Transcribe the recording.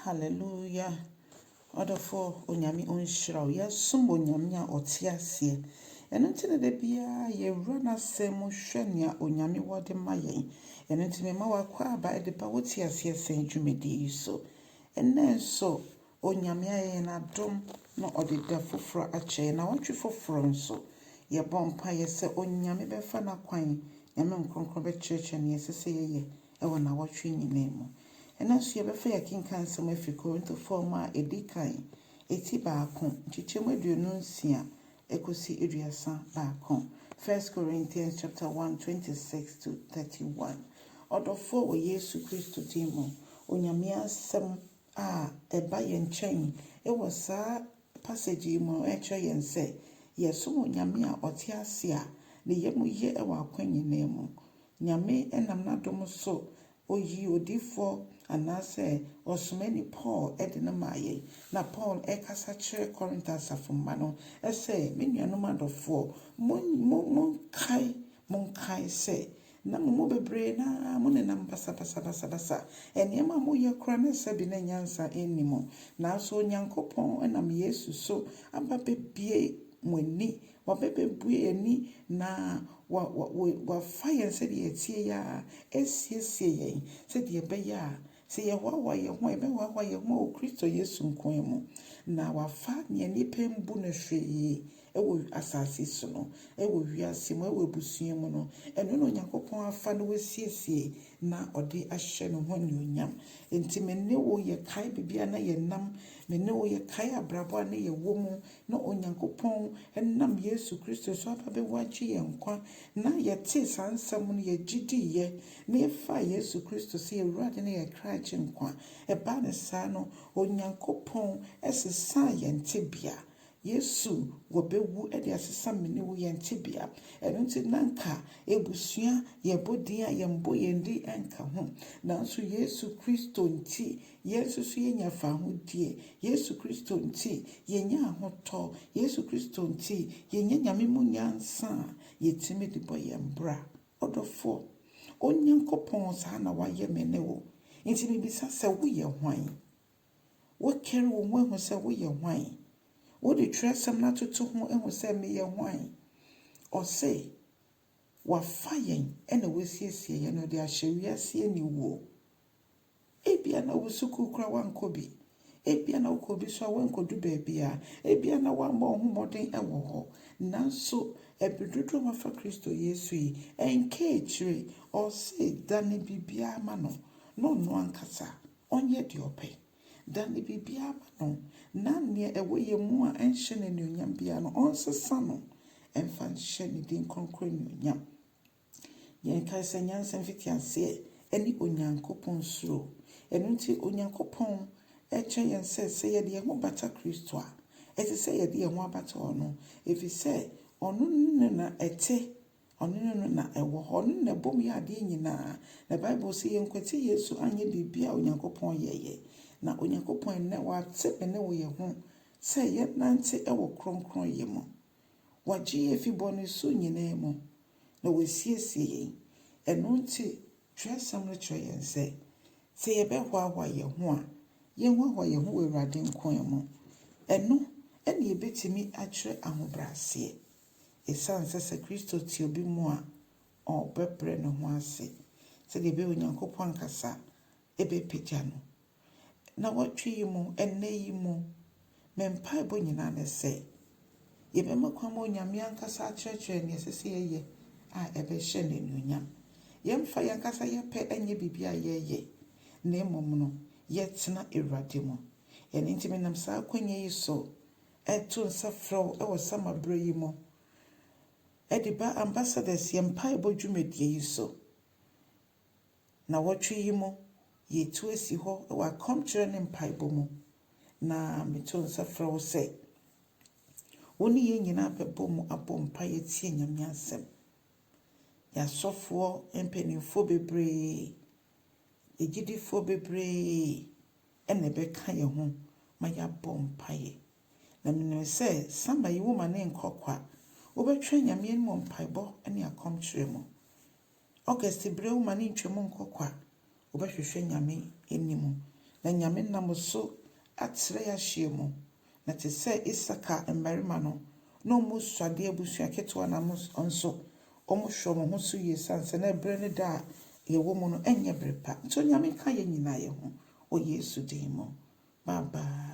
Hallelujah ɔdɔfoɔ onyame ɔnhyira wo yɛsom onyame a ɔte aseɛ ɛno nti na da biara yɛwura n'asɛm mu hwɛ nea onyame wɔ de ma yɛn ɛno nti mema w'akɔ aba de ba wo te aseɛ sɛn dwumadie yi so ɛnɛ nso onyame ayɛ yɛn adom na ɔde da foforɔ akyɛ yɛn na ɔtwe foforɔ nso yɛbɔ mpaeɛ sɛ onyame bɛfa n'akwan nyame nkonkron bɛkyerɛkyerɛ nea ɛsɛ sɛ yɛyɛ wɔ nnawɔtwe nyinaa mu. Ɛnnɛ nso yɛbɛfa yɛakenkan nsɛm afi Korintofoɔ nwoma a ɛdi kan, ti baako, nkyekyɛm aduonu nsia kɔsi aduasa baako, First Corinthians chapter one, twenty six to thirty one. Ɔdɔfoɔ wɔ Yesu Kristo din mu, Onyame asɛm a ɛba yɛn nkyɛn wɔ saa passage yi mu no kyerɛ yɛn sɛ yɛsom Onyame a ɔte ase a ne yam ye wɔ akwan nyinaa mu. Nyame nam n'adom so oyii odiyifoɔ anaasɛ ɔsomani Paul de no maa yɛn. Na Paul rekasa kyerɛ Korinto asafo mma no sɛ, Me nuanom adɔfoɔ, monkae, monkae sɛ na mo mu bebree no ara monenam basabasa, basabasa. Nneɛma a moyɛ koraa na ɛsɛ bi na nyansa nni mu. Nanso Onyankopɔn nam Yesu so aba abɛbue mo ani Wɔbɛbɛbue yɛn ani na wɔafa yɛn sɛdeɛ yɛteɛ yi ara asiesie yɛn sɛdeɛ ɛbɛyɛ a sɛ yɛhoahoa yɛn ho a, yɛbɛhoahoa yɛn ho wɔ Kristo Yesu nko ara mu. Na wɔafa nea nnipa mbu no hwee wɔ asase so no, wɔ wiase mu, wɔ abusua mu no, ɛno na Onyankopɔn afa na wasiesie na ɔde ahyɛ ne ho anuonyam. Enti me ne wo yɛkae baabi a na yɛnam, me ne wo yɛkae abrabɔ a na yɛwɔ mu, na Onyankopɔn nam Yesu Kristo so aba bɛwagye yɛn nkwa, na yɛtee saa nsɛm no, yɛgye diiɛ, na yɛfaa Yesu Kristo sɛ yɛn Awurade ne yɛn kra Agyenkwa. Ɛbaa no saa no, Onyankopɔn sesaa yɛn tebea. Yesu wɔbɛwu de asesa me ne wo yɛn tebea. Ɛno nti na anka abusua, yɛbɔ din a yɛmmɔ yɛn din nka ho, nanso Yesu Kristo nti, Yɛn nso so yɛnya fawohodie. Yesu Kristo nti yɛnya ahotɔ. Yesu Kristo nti yɛnya Nyame mu nyansa a yɛtumi de bɔ yɛn bra. Ɔdɔfoɔ, Onyankopɔn saa na wayɛ me ne wo. Nti mebisa sɛ woyɛ hwan? Wokari wo ho ahu sɛ woyɛ hwan? Wode twerɛsɛm no atoto ho ahu sɛ meyɛ hwan? Ɔse, Wafa yɛn na wasiesie yɛn, ɔde ahyɛ wiase aniwuo. Ebia na wo sukuu koraa wankɔ bi, ebia na wokɔ bi so a wankɔdu baabiara, ebia na wammɔ wo ho mmɔden wɔ hɔ. Nanso, ɛbere dodoɔ a wafa Kristo Yesu yi, ɛnka akyire. Ɔse, dane biribiara ma no, na ɔno ankasa ɔnyɛ deɛ ɔpɛ. Dane biribiara ma no, na nea ɛwɔ yɛn mu a ɛnhyɛ no anuonyam biara no, ɔnsesa no mfa nhyɛ ne din kronkron anuonyam. Yɛnkae sɛ nyansa mfitiaseɛ ne Onyankopɔn suro. Ɛno nti, Onyankopɔn kyɛ yɛn sɛ, sɛ yɛde yɛn ho bata Kristo a, ɛte sɛ yɛde yɛn ho abata ɔno, ɛfiri sɛ ɔno ne na ɛte Ɔno ne no na ɛwɔ hɔ. Ɔno na ɛbom yɛ adeɛ nyinaa. Na Bible se yɛnkwati Yesu anyɛ biribiara a Onyankopɔn yɛeɛ. Na Onyankopɔn ɛnnɛ wate me ne wo yɛ ho sɛ yɛnnante wɔ kronkronyɛ mu. Wagye yɛn afi bɔne su nyinaa mu na wasiesie yɛn. Ɛno nti twerɛsɛm no kyerɛ yɛn sɛ, sɛ yɛbɛhoahoa yɛn ho a, yɛnhoahoa yɛn ho wɔ Awurade nkoaa mu. Ɛno na yɛbɛtumi akyerɛ ahobrɛaseɛ. Esiane sɛ sɛ Kristo te obi mu a, ɔbɛbrɛ ne ho ase sɛdeɛ ɛbɛyɛ a Onyankopɔn ankasa bɛpagya no. Nnawɔtwe yi mu, ɛnnɛ yi mu, me mpaebɔ nyinaa ne sɛ, yɛbɛma kwan ma Onyame ankasa akyerɛkyerɛ nea ɛsɛ sɛ yɛyɛ a ɛbɛhyɛ no anuonyam. Yɛmfa yɛn ankasa yɛ pɛ nyɛ biribi a yɛyɛ, na mmom no, yɛtena Awurade mu. Ɛno nti, menam saa akwannya yi so reto nsa frɛ wo wɔ Sama berɛ yi mu de ba Ambassadors yɛn mpaebɔ dwumadie yi so. Nnawɔtwe yi mu, yɛretu asi hɔ wɔ akɔmkyerɛ ne mpaebɔ mu, na meto nsa frɛ wo sɛ wo ne yɛn nyinaa bɛbɔ mu abɔ mpaeɛ atie Nyame asɛm. Yɛn asɔfoɔ mpanimfoɔ bebree Agyidifoɔ bebree na ɛbɛka yɛn ho ma yɛabɔ mpaeɛ. Na menim sɛ Sama yi woma no nkɔ kwa. Wobɛtwɛn Nyame anim wɔ mpaebɔ ne akɔmkyerɛ mu. August berɛ woma no ntwam nkɔ kwa. Wobɛhwehwɛ Nyame anim. Na Nyame nam wo so atrɛ yɛ ahyeɛ mu. Na te sɛ Isakar mmarima no, na wɔn su ade abusua ketewa na mo nso wɔhwɛ wɔn ho so yie sane sɛ na berɛ ne da a yɛwɔ mu no ɛnyɛ berɛ pa. Nti Onyame nka yɛn nyinaa yɛ ho wɔ Yesu din mu. Bye bye.